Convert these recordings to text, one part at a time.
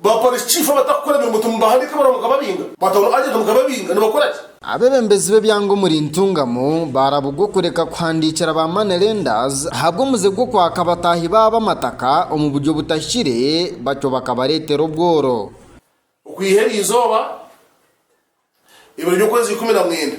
Ba Parish Chief abatakukora mirimo timubahandiika ebaruha mukababinga? Ba Town Agent mukababinga nibakora ki? Abebembezi b'ebyanga omuri Ntungamo barabugwa okureka kuhandiikira ba Money Lenders ahabw'omuze gw'okwaka abataahi baabo amataka omu buryo butahikire batyo bakabareetera obworo. Okwiha eri izooba, ebiro by'okwezi ikumi na mwenda.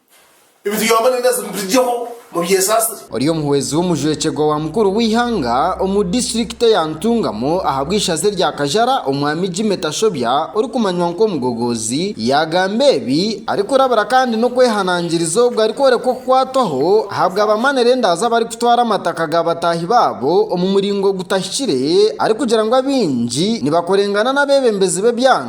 Ebituyamba nari nazo mubiryeho mubyesaasire. Ori omuhwezi w'omujwekyerwa wa mukuru w'eihanga omu disiturikite ya Ntungamo ahabw'eishaza erya Kajara, omwami Jimmy Tashobya orikumanywa nk'omugogoozi, yaagamba ebi arikurabira kandi n'okwehanangiriza ogu arikworeka okukwatwaho ahabwa abamanera endaazi abarikutwara amataka ga bataahi baabo omu muringo gutahikire arikugira ngu abaingi nibakorengana n'abeebembezi b'ebyanga.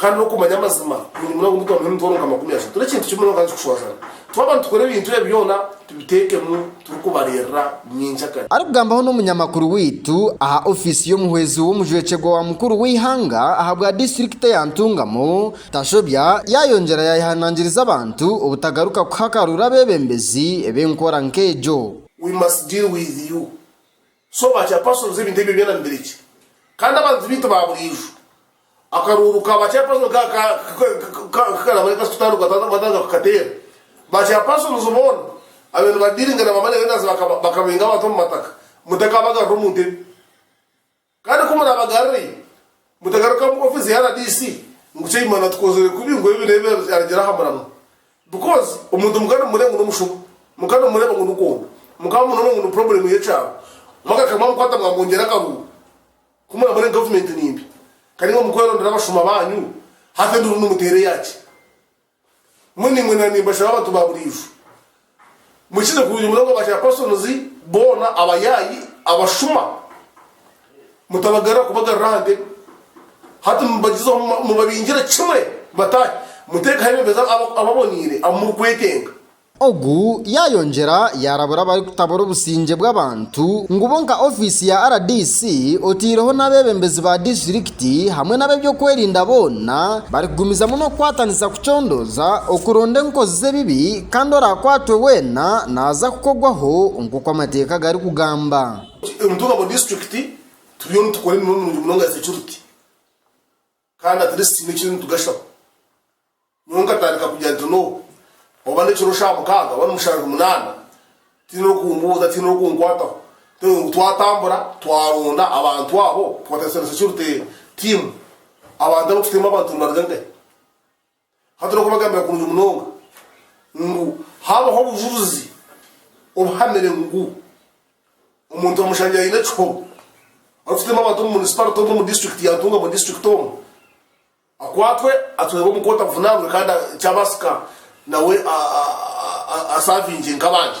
Kandi n'okumanya amazima kurungi munonga omu twamanya emitwaro nka makumi ashatu n'ekintu kimwe kandi kikushwazana. Twaba nitukora ebintu ebi byona, tubiteekemu turikubareerera nyenkya kare. Arikugambaho n'omunyamakuru waitu aha ofiisi y'omuhwezi w'omujwekyerwa wa mukuru w'eihanga ahabwa disiturikite ya Ntungamo, Tashobya yaayongyera yaayehanangiriza abantu obutagaruka kuhakarura abeebembezi b'enkora nk'egyo. We must deal with you. So ba chairpersons ebintu ebyo byona nibirekye kandi abantu baitu ba buriijo. Akaruuru ka ba chairperson nk'aka nkakarabare kakutandikwa tata batandika kukateera. Ba chairpersons boona abaire nibadiringa na ba money lenders bakabenga abantu omu mataka mutakaabagarura omu ntebe. Kandi ku muraabagarurayo Mutagaruka mu office ya rdc ngu Kyaimana tukozire kubi ngu ebi nebi aregyera aha muramwa because omuntu mukaba nimumureba ngu nomushuba, mukaba nimumureba ngu nikondo, mukaba nimumureba ngu ni problem yekyaro, mwagaruka mwamukwata mwamongyera akaruuru ku muramure ngu government nimbi kandi nga mukwerondera abashuma banyu hati enduru nimuteera eyaki? Munimwe na nimbashaba abantu ba buriijo mukize kurungi munonga ba chairpersons boona abayaayi abashuma mutabagarira kubagarira aha ntebe hati mubagyezeho mubabingire kimwe bataahe muteekaho ebembezi ababoneire abu murikwetenga. Ogu yaayongyera yaarabura abarikutabura obusingye bw'abantu ngu bo nka ofiisi ya rdc otaireho n'abeebembezi ba disiturikiti hamwe n'ab'ebyokwerinda boona barikugumizamu n'okukwatanisa kucondooza okuronda enkozi z'ebibi kandi oraakwatwe weena naaza kukogwaho nk'oku amateeka garikugamba. Omutuura wa disiturikiti turiyo nitukora emirimo mirungi munonga ya securite. Kandi at least tihaine ekiri nitugashaho. Nyowe nkatandika kugira nti no oba nekiro sha mukaaga oba nimushanju munana tihaine orikumbuuza tihaine orikunkwataho ntewe ngu twatambura twaronda abantu abo twatarisanisa security team abantu abu tutemu abantu nibaruga nkahi? Hati n'okubagambira kurungi munonga ngu haabaho obujurizi obuhamire ngu omuntu bamushangire aine ekihobo arikutema abantu omu munisiparite omu omu disiturikiti ya Ntungamo disiturikiti omu akwatwe atwebwe omu kooti avunaanwe kandi kyabaasika nawe asaavingye nk'abandi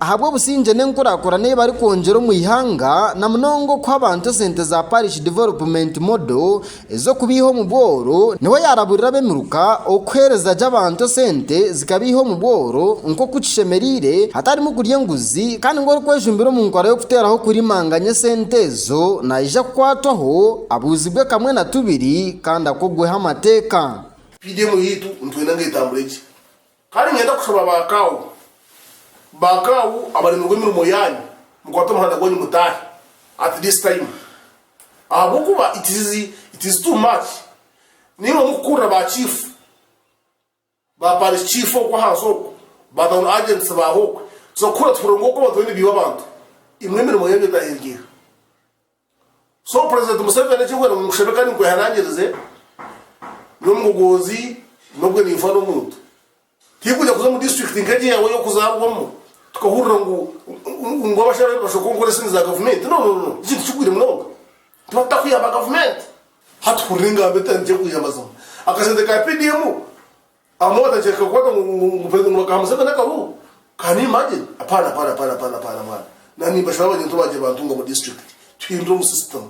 ahabw'obusingye n'enkurakurana ei barikwongyera omu ihanga na munonga okuha abantu esente za Parish Development Model ez'okubeiha omu bworo niho yaraburira ab'emiruka okuhereza gye abantu esente zikabeiha omu bworo nk'oku kishemereire hatarimu kurya enguzi kandi ngu orikwejumbira omu nkora y'okuteraho kurimanganya esente ezo naija kukwatwaho abuuzibwe kamwe na tubiri kandi akogweho amateeka. PDM yaitu nitwenda ngu etambure gye Kandi niinyenda kushaba ba kaawu. Ba kaawu abaremirwe emirimo yaanyu, mukwate omuhanda gwanyu mutaahe at this time. Ahabw'okuba it is it is too much. Nainwe mukukurira ba chief, ba parish chief okwo ahansi okwo, ba town agents baaha okwe. So kuhurira tuhurire ngu okwo abantu bariyo nibiiba abantu. Imwe emirimo yaanyu etaahe ery'eha? So President Museveni eki nkwenda ngu nkushabe kandi nkwehanangirize n'omugogoozi n'obwe ninfa n'omuntu tinkwija kuza omu district nk'egi eyaawe ey'okuzarwamu tukahurira ngu ngu abashabe nibashoka onkora esindi za gavumenti no no no eki tikigwire munonga tuba tutakuyamba gavumenti hati hurira engambo etari nkye kwiha amazima akasente ka PDM Amwe batakyahika kukwata ngu ngu president ngu bakaha museveni akahuhu can you imagine apana apana apana apana apana mwana na nimba shaba abanyento bagye bantunga mu district tuhindure omu system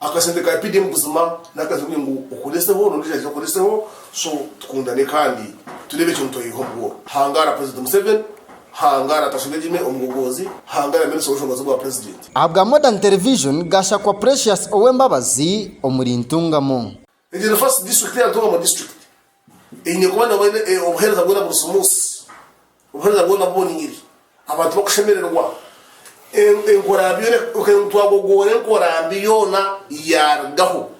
akasente ka PDM buzima naka sente kugira ngu okoreseho nondijo aije akoreseho so tukundane kandi turebe ekyo nitweyiha omu bworo hangara president museveni hangara Tashobya Jimmy omugogozi hangara minister wobushobozi bwa president. Ahabwa Modern Television, Gashakwa Precious Owembabazi omuri Ntungamo. Egyo ni first district ya Ntungamo district eine kuba nabwo eine obuhereza bwona buri smooth, obuhereza bwona buboniire, abantu bakushemererwa, enkora byona kwonka ngu twagogoora enkora mbi yoona yarugaho.